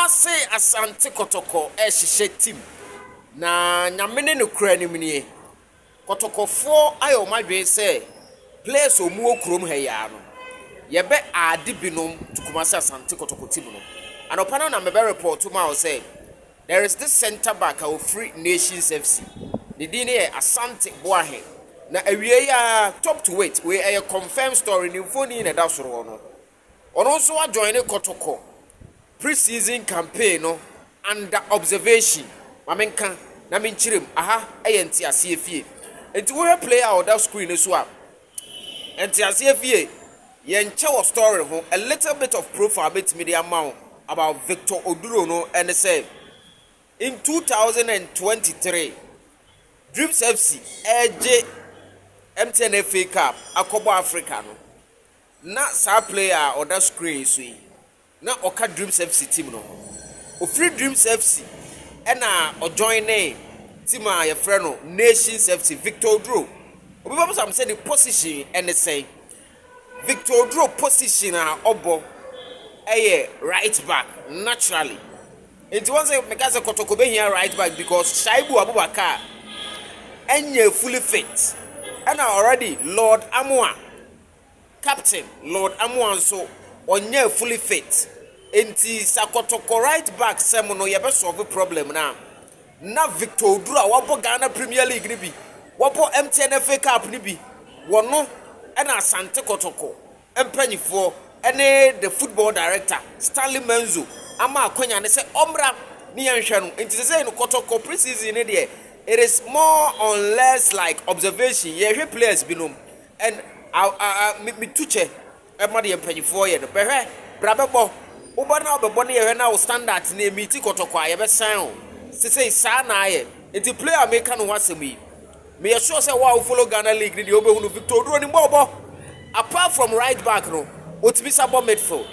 Kumase Asante Kɔtɔkɔ rehyehyɛ team na Nyame ne no kura nim nie. Kɔtɔkɔfoɔ ayɛ wɔn adwene sɛ players a wɔwɔ kurom ha yi ara no, yɛbɛ add binom to Kumase Asante Kɔtɔkɔ team no. Anɔpa no na mebɛ report maa wo sɛ there is this centre back a ɔfiri Nations FC, ne din no yɛ Asante Boahe. Na awiei ara top to wait, wei ɛyɛ confirmed story, ne mfonin na ɛda soro hɔ no, Ɔno nso ajoine kɔtɔkɔ pre season campaign no under observation ma me nka na me nkyere mu aha yɛ nteaseɛ fie nti wohwɛ player a ɔda screen no so a nteaseɛ fie yɛ nkyɛ wɔ story ho a little bit of profile mɛtumi de ama wo about Victor Oduro no ɛne sɛ in 2023 Dreams FC ɛgye MTN FA Cup akɔbɔ Africa no Na saa player a ɔda screen yi so yi na ɔka Dreams FC team no ho. Ofiri Dreams FC ɛna ɔjoinee team a yɛfrɛ no Nations FC. Victor Oduro, obi bɛbisa me sɛ ne position ɛne sɛn. Victor Oduro position a ɔbɔ ɛyɛ right back naturally. Nti wɔn sɛ meka sɛ Kɔtɔkɔ bɛhia right back because Shaibu Abubakar ɛnyɛ fully fit ɛna already Lord Amoa Captain Lord Amoah nso ɔnyaa fully fit nti sa kɔtɔkɔ right back sɛm no yɛbɛ solve problem no a na Victor Oduro a wabɔ Ghana Premier League no bi, wabɔ MTN FA Cup no bi, wɔno na Asante Kɔtɔkɔ mpanyifoɔ ne the football director Stanley Menzo ama akwanya no sɛ ɔmmra ne yɛnhwɛ no nti sɛsɛi no Kɔtɔkɔ pre-season no deɛ it is more on less like observation yɛhwɛ players binom And ah ah ah me me tu kyɛ ɛma deɛ mpanyinfoɔ yɛ no bɛhwɛ bra bɛbɔ wo ba na ɔbɛbɔ ne yɛhwɛ na wo standard ne ɛmiti kɔtɔkɔ a yɛbɛsan wo sesei saa na ayɛ nti player a meka ne ho asɛm yi meyɛ sure sɛ wo a wo follow Ghana league no deɛ wobɛhu no Victor Oduro nim bɔ ɔbɔ apart from right back no ɔtumi sa bɔ midfield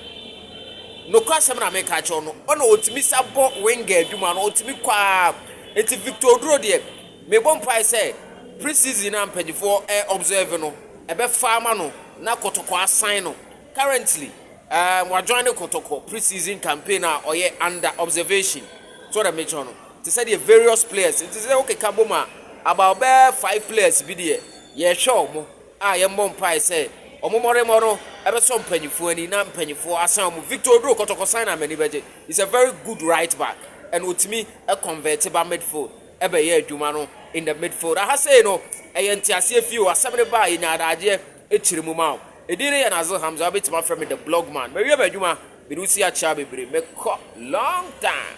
nokora asɛm na meka kyerɛ no ɔna ɔtumi sa bɔ winger adwuma no ɔtumi kɔ a nti Victor Oduro deɛ Mebɔ mpae sɛ pre-season a mpanyinfoɔ observe no ɛbɛfa ama no na Kotoko asan no. Currently um wa join Kotoko pre-season campaign a ɔyɛ under observation. So dɛ mekyerɛ no te sɛ deɛ various players nti sɛ wokeka bom a about bɛ five players bi deɛ yɛhwɛ ɔmo a yɛmmɔ mpae sɛ ɔmo mɔremɔ no ɛbɛsɔ mpanyinfoɔ ani na mpanyinfoɔ asan ɔmo. Victor Oduro Kotoko sign a m'ani bɛgye. He's a very good right back and otumi convert ba midfield. bɛyɛ adwuma no in the midfield. Aha sei no, ɛyɛ nteaseɛ fie o, asɛm no baa yɛnya adagyeɛ akyiri mu ma o. Edin no yɛ Nazil Hamza, wobɛtumi afrɛ me the blog man. Mawie m'adwuma, mede wo si akyea bebree, mekɔ long time.